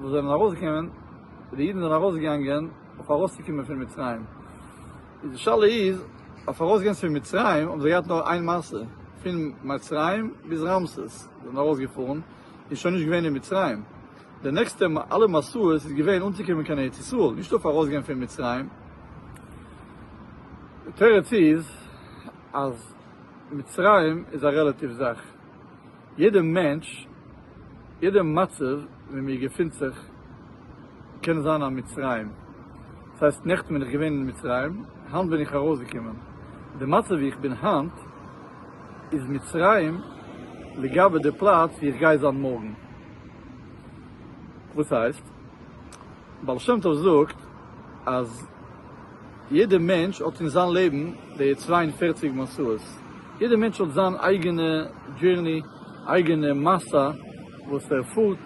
וואס זענען ארויסגעקומען, ווי די אידן זענען ארויסגעגאנגען אויף ארויסצוקומען פון מצרים, איז די שאלה איז, אויף ארויסגיין פון מצרים האבן זיי געהאט נאר איין מעשה, פון מצרים ביז רמסס, זיי זענען ארויסגעפארן און שוין נישט געווען אין מצרים, די נעקסטע אלע מסעות איז געווען אנצוקומען קיין ארץ ישראל, נישט אויף ארויסגיין פון מצרים, די תירוץ איז אז מצרים איז א רעלאטיוו זאך. יעדע מענטש, יעדע מצב ווי מיר געפינט זיך קען זיין א מצרים. דאס הייסט נעכטן בין איך געווען אין מצרים, היינט בין איך ארויסגעקומען. די מצב ווי איך בין היינט איז מצרים לגבי די פלאץ ווי איך גיי זיין מארגן. וואס הייסט? בעל שם טוב זאגט אז. יעדער מענטש האט אין זיין לעבן די צוויי און פֿערציק מסעות, יעדער מענטש האט זיין אייגענע דזשערני, אייגענע מסע וואס ער פארט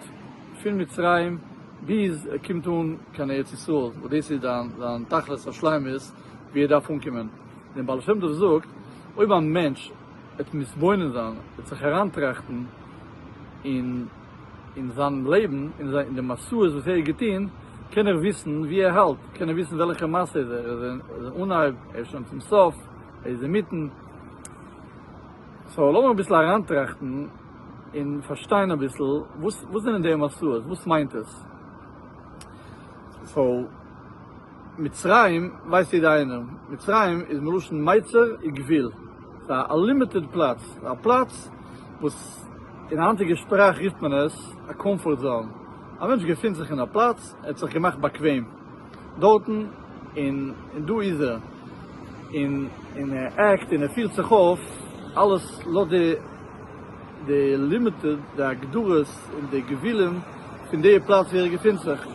פון מצרים ביז ער קומט אן קיין ארץ ישראל, וואס דאס איז זיין תכלית השלימות ווי ער דארף אנקומען. דער בעל שם טוב זאגט, אויב א מענטש וועט מתבונן זיין, וועט זיך אריינטראכטן אין. אין זיין לעבן, אין די מעשיות וואס ער האט געטון, קען ער וויסן וואו ער האלט, קען ער וויסן וועלכע מעשה איז ער, ער איז אין אנהייב, ער איז שוין צום סוף, ער איז אינמיטן. סאו לאמיר אביסל אריינטראכטן און פארשטיין אביסל וואס וואס זענען די מעשיות, וואס מיינט עס? סאו מצרים ווייסט יעדע איינער, מצרים איז מלשון מיצר וגבול, פאר א לימיטעד פלאץ, פאר א פלאץ וואס אין היינטיגע שפראך רופט מען עס א קאמפארט זאון, א מענטש געפינט זיך אין א פלאץ, ער האט זיך געמאכט באקוועם דארטן, און דא איז ער, און ער עקט און ער פירט זיך אויף, אלעס לויט די לימיטעד, די הגדרות און די גבולים פון די פלאץ ווי ער געפינט זיך,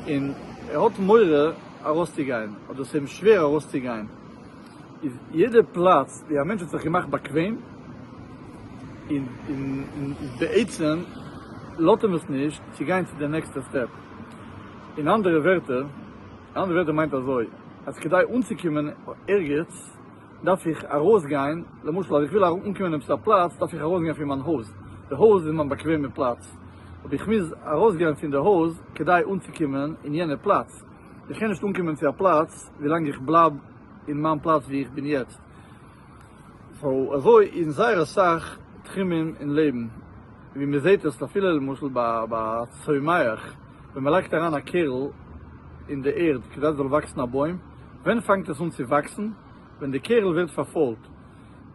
און ער האט מורא ארויסצוגיין, אדער ס'איז אים שווער ארויסצוגיין. איז יעדע פלאץ ווי א מענטש האט זיך געמאכט באקוועם און בעצם לאזט אים עס נישט צו גיין צו די נעקסטע סטעפ, אין אנדערע ווערטער, אין אנדערע ווערטער מיינט אזוי אז כדי אנצוקומען ערגעץ דארף איך ארויסגיין, למשל אז איך וויל אנקומען אין עפעס א פלאץ דארף איך ארויסגיין פון מיין הויז, די הויז איז מיין באקוועמע פלאץ, אבער איך מוז ארויסגיין פון די הויז כדי אנצוקומען אין יענע פלאץ. איך קען נישט אנקומען צו א פלאץ ווילאנג איך בלייב אין מיין פלאץ וואו איך בין יעצט, סאו אזוי אין זייער אסאך תחומים אין לעבן, ווי מען זעט עס אפילו למשל ביי א צומח, ווען מען לייגט אריין א קערל אין די ערד כדי עס זאל וואקסן א בוים, ווען פאנגט עס אן צו וואקסן? ווען די קערל ווערט פארפוילט,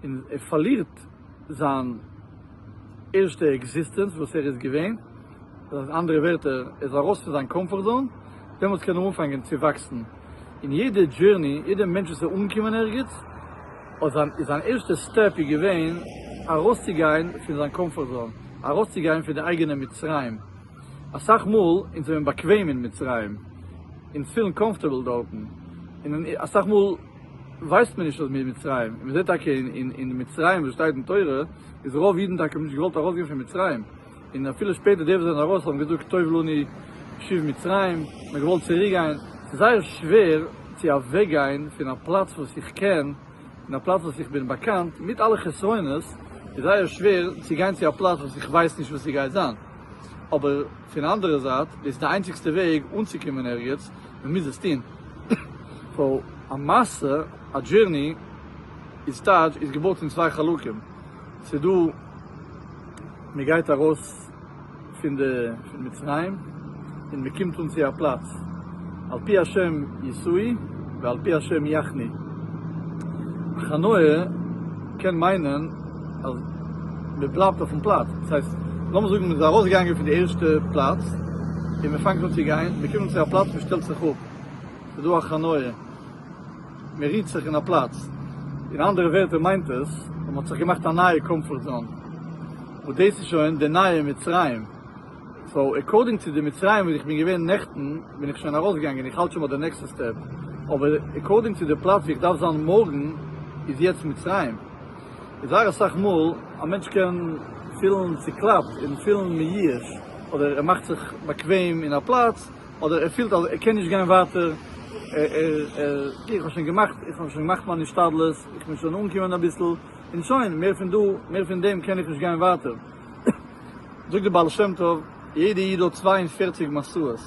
און ער פארלירט זיין ערשטע עקזיסטענץ וואס ער איז געווען, דאס הייסט אנדערע ווערטער ער איז ארויס פון זיין קאמפארט זאון, דעמאלטס קען ער אנפאנגען צו וואקסן, און יעדע דזשורני, יעדע מענטש וואס איז אנגעקומען ערגעץ, האט זיין איז זיין ערשטע סטעפ איז געווען ארויסצוגיין פון זיין קאמפארט זאון, ארויסצוגיין פון די אייגענע מצרים, אסאך מאל אונז זעמיר באקוועם אין מצרים, אונז פילן קאמפארטעבל דארטן, און אסאך מאל. ווייסט מען נישט אז מ'איז מצרים, און מ'זעט טאקע אין מצרים וואס שטייט אין תורה, איז רוב אידן טאקע נישט געוואלט ארויסגיין פון מצרים, און אפילו שפעטער די וואס זענען ארויס האבן געזאגט טוב לנו שוב מצרים, מ'האט געוואלט צוריק גיין, ס'איז זייער שווער צו אוועק גיין פון א פלאץ וואס איך קען, און א פלאץ וואס איך בין באקאנט, מיט אלע חסרונות, איז זייער שווער צו גיין צו א פלאץ וואס איך ווייס נישט וואס ס'גייט זיין, אבער פון אנדערע זייט, דאס איז די איינציגסטע וועג אנצוקומען ערגעץ, מען מוז עס טוהן ווייל א מעשה, א דזשורני, איז טייטש איז געבויט פון צוויי חלקים, ס'איז דא מען גייט ארויס פון די פון מצרים און מען קומט אן צו א פלאץ, על פי השם יסעי ועל פי השם יחני, הכנעה קען מיינען. אז מען בלייבט אויפן פלאץ, דאס הייסט לאמיר זאגן מען איז ארויסגעגאנגען פון די ערשטע פלאץ און מען פאנגט אן צו גיין, מען קומט צו א פלאץ מען שטעלט זיך אפ, ס'איז דא א חניה, מען רוהט זיך אין א פלאץ, אין אנדערע ווערטער מיינט עס אז מען האט זיך געמאכט א נייע קאמפארט זאון, וואס דאס איז שוין די נייע מצרים, סאו עקארדינג צו די מצרים וואס איך בין געווען נעכטן בין איך שוין ארויסגעגאנגען איך האלט שוין ביי די נעקסטע סטעפ, אבער עקארדינג צו די פלאץ ווי איך דארף זיין מארגן איז יעצט מצרים. זייער אסאך מאל א מענטש קען פילן צוקלאפט און פילן מיאוש אדער ער מאכט זיך באקוועם אין א פלאץ אדער ער פילט אז ער קען נישט גיין ווייטער איך האב שוין געמאכט איך האב שוין געמאכט מיין השתדלות איך בין שוין אנגעקומען אביסל און שוין מער פון דא מער פון דעם קען איך נישט גיין ווייטער זאגט די בעל שם טוב יעדע איד האט צוויי און פֿערציק משאות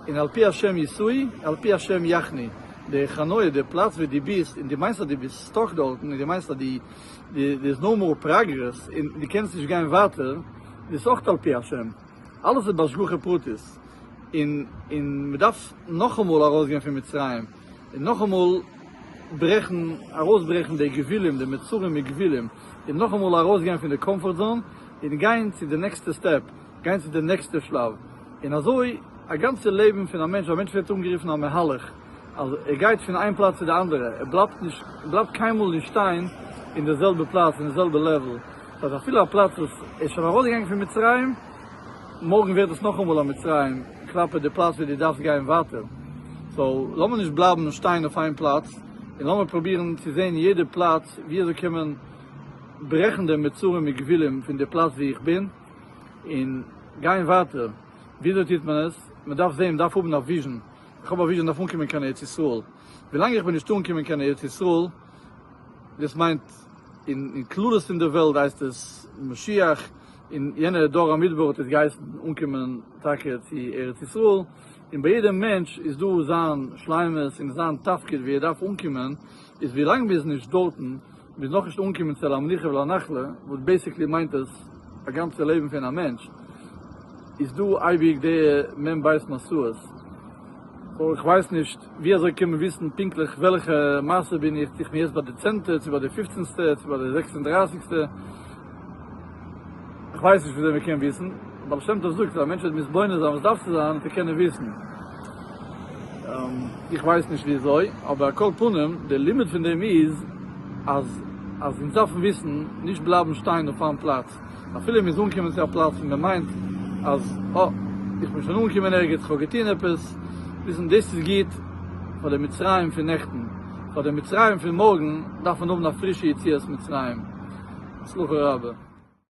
און על פי השם ישאי על פי השם יחני די חניה די פלאץ ווי די ביסט און די מיינסט אז די ביסט סטאק דארטן און די מיינסט אז די דער איז נאו מאר פראגרעס און די קענסט נישט גיין ווייטער דאס אויך על פי השם אלעס איז בהשגחה פרטית און און מען דארף נאכאמאל ארויסגיין פון מצרים און נאכאמאל ברעכן ארויסברעכן די גבולים די מצרים גבולים און נאכאמאל ארויסגיין פון די קאמפארט זאון און גיין צו די נעקסטע סטעפ גיין צו די נעקסטע שלב און אזוי א גאנצע לעבן פון א מענטש א מענטש ווערט אנגערופן א מהלך. אז ער גייט פון איין פלאץ צו די אנדערע, ער בלייבט נישט, ער בלייבט קיינמאל נישט שטיין אין די זעלבע פלאץ, אין די זעלבע לעוועל, דאס הייסט אפילו א פלאץ וואס ער איז שוין ארויסגעגאנגען פון מצרים, מארגן ווערט עס נאכאמאל א מצרים כלפי די פלאץ ווי דו דארפסט גיין ווייטער, סאו לאמיר נישט בלייבן שטיין אויף איין פלאץ, און לאמיר פרובירן צו זען יעדע פלאץ ווי אזוי קען מען ברעכן דעם מצרים מגבילים פון די פלאץ ווי איך בין, און גיין ווייטער, ווי אזוי טוט מען עס? מען דארף זען, מען דארף האבן א וויזשן. איך האב א וויזשען אויף אנקומען קיין ארץ ישראל, ווילאנג איך בין נישט אנקומען קיין ארץ ישראל, דאס מיינט אין כללות פון די וועלט הייסט עס משיח, און יענע דור המדבר האט עס געהייסן אנקומען טאקע צו ארץ ישראל, און ביי יעדע מענטש איז דא זיין שלימות און זיין תפקיד ווי ער דארף אנקומען, איז ווי לאנג מ'איז נישט דארטן, מ'איז נאכנישט אנגעקומען צו אל המנוחה ואל הנחלה, וואס בעיסיקלי מיינט עס א גאנצע לעבן פון א מענטש, איז דא אייביג די מ ב משאות, סאו איך ווייס נישט ווי אזוי קען מען וויסן פונקטליך וועלכע מעשה בין איך, צו איך בין יעצט ביי די צענטע, צו ביי די פופצנסטע, צו ביי די זעקס און דרייסיגסטע. איך ווייס נישט וויאזוי מ'קען וויסן, די בעל שם טוב זאגט אז א מענטש וועט מתבונן זיין וואס דארף צו זיין צו קענען וויסן, איך ווייס נישט וויאזוי, אבער על כל פנים די לימוד פון דעם איז אז אז אונז דארפן וויסן, נישט בלייבן שטיין אויף איין פלאץ, אפילו אונז אנקומען צו א פלאץ און מ'מיינט אז אה, איך בין שוין אנגעקומען ערגעץ, איך האב געטון עפעס, וויסן דאס איז גוט פאר די מצרים פון נעכטן. פאר די מצרים פון מארגן דארף מען האבן א פרישע יציאת מצרים. הצלחה רבה.